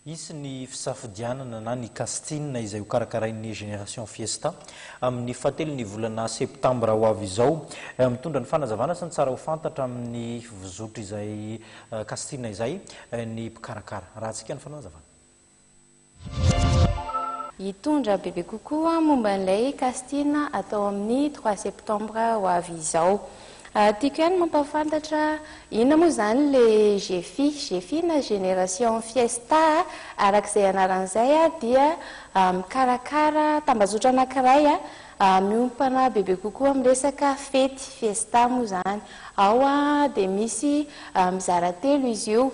Hisy ny fisafodianana na ny casting izay hokarakarain'ny Génération Fiesta amin'ny fahatelon'ny volana septambra ho avy izao. Mitondra ny fanazavana sy ny tsara ho fantatra amin'ny fivozotr'izay casting izay ny mpikarakara. Arahantsika ny fanazavana. Hitondra bebe kokoa momba an'ilay casting atao amin'ny trois septambra ho avy izao Ary tiako ihany mampahafantatra inona moa izany ilay Gefi. Gefi na Génération Fiesta araka izay anarany izay dia mikarakara tambazotra anankiray miompana bebe kokoa amin'ny resaka fety, fiesta moa izany. Ao dia misy mizara telo izy io.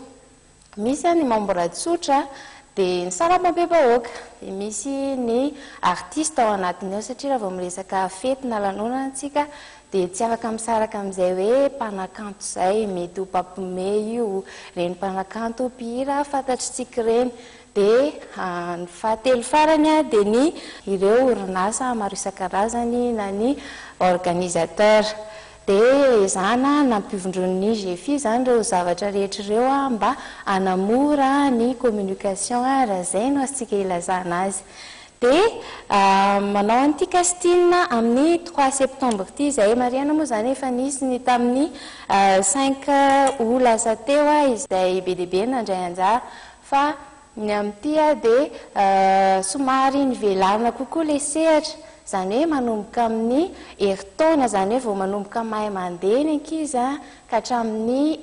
Misy ny membres tsotra, dia ny sarambam-be-bahoaka, dia misy ny artistes ao anatiny ao satria raha vao miresaka fety na lanonana isika dia tsy afaka misaraka amin'izay hoe mpanakanto izay, mety ho mpampime io, ireny mpanakanto mpihira fantatr'isika ireny. Dia ny fahatelo farany dia ny ireo orinasa maro isan-karazany na ny organisateurs. Dia ezahana nampivondron'ny GEFI izany ireo zavatra rehetra ireo mba hanamora ny communication, raha izay no azontsika ilazana azy. Dia manao an'ity casting amin'ny trois septembre ity izahay. Marihana moa izany efa nisy ny tamin'ny cinq aout lasa teo izay be dia be nandray anjara fa Ny amin'ity aho dia somary nivelarina kokoa ilay sehatra, izany hoe manomboka amin'ny herintaona, izany hoe vao manomboka mahay mandeha ny ankizy ka hatramin'ny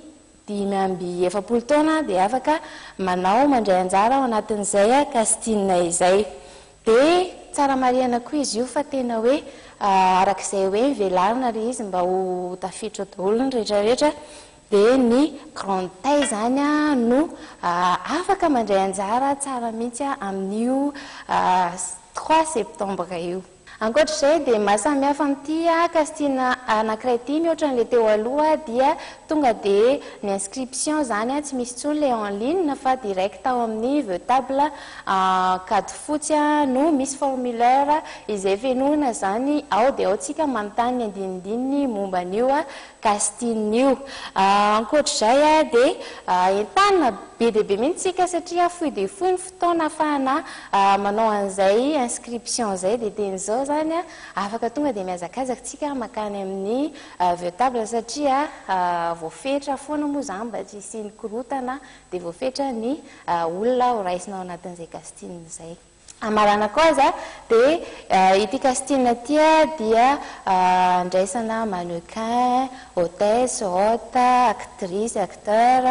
dimy amby efapolo taona dia afaka manao mandray anjara ao anatin'izay casting izay. Dia tsara marihana koa izy io fa tena hoe arak'izay hoe nivelarina ilay izy mba ho tafiditra ao daholo ny rehetra rehetra dia ny Grand Tay izany no afaka mandray anjara tsara mihitsy amin'io trois septembre io. Ankoatra izay dia ny maha samy hafa amin'ity casting anankiray ity mihoatra an'ilay teo aloha dia tonga dia ny inscription izany tsy misy intsony ilay en ligne fa direct ao amin'ny Vtable ankady fotsy no misy formulaire izay fenoina izany ao dia ao isika manontany ny andinindininy momba an'io Gastinho io. Ankoatr'izay dia entanina be dia be mihitsy isika satria fohy dia fohy ny fotoana ahafahana manao an'izay inscription izay dia teny izao izany afaka tonga dia mihazakazaka isika makany amin'ny Viotable satria voafetra foana moa izany mba tsy hisian'ny korotana dia voafetra ny olona ho raisina ao anatin'izay Gastinho izay. Amaranako aza dia ity casting ity dia andraisana mannequin, hôtesse, hôte, actrice, acteur,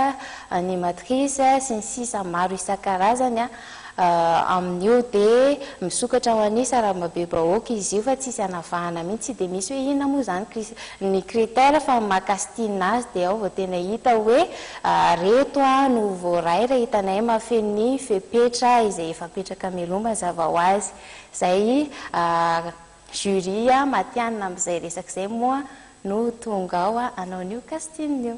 animatrice sy ny sisa maro isan-karazany amin'io dia misokatra ho an'ny sarababebahoaka izy io fa tsisy anavahana mihitsy tsy dia misy hoe inona moa izany ny critère fa ny maha casting azy dia ao vao tena hita hoe Ary eto aho no voaray raha hitanay mahafeno ny fepetra izay efa apetraka mialoha mazava ho azy. Izay jury matihanina amin'izay resaka izay moa no tonga ao hanao an'io casting io.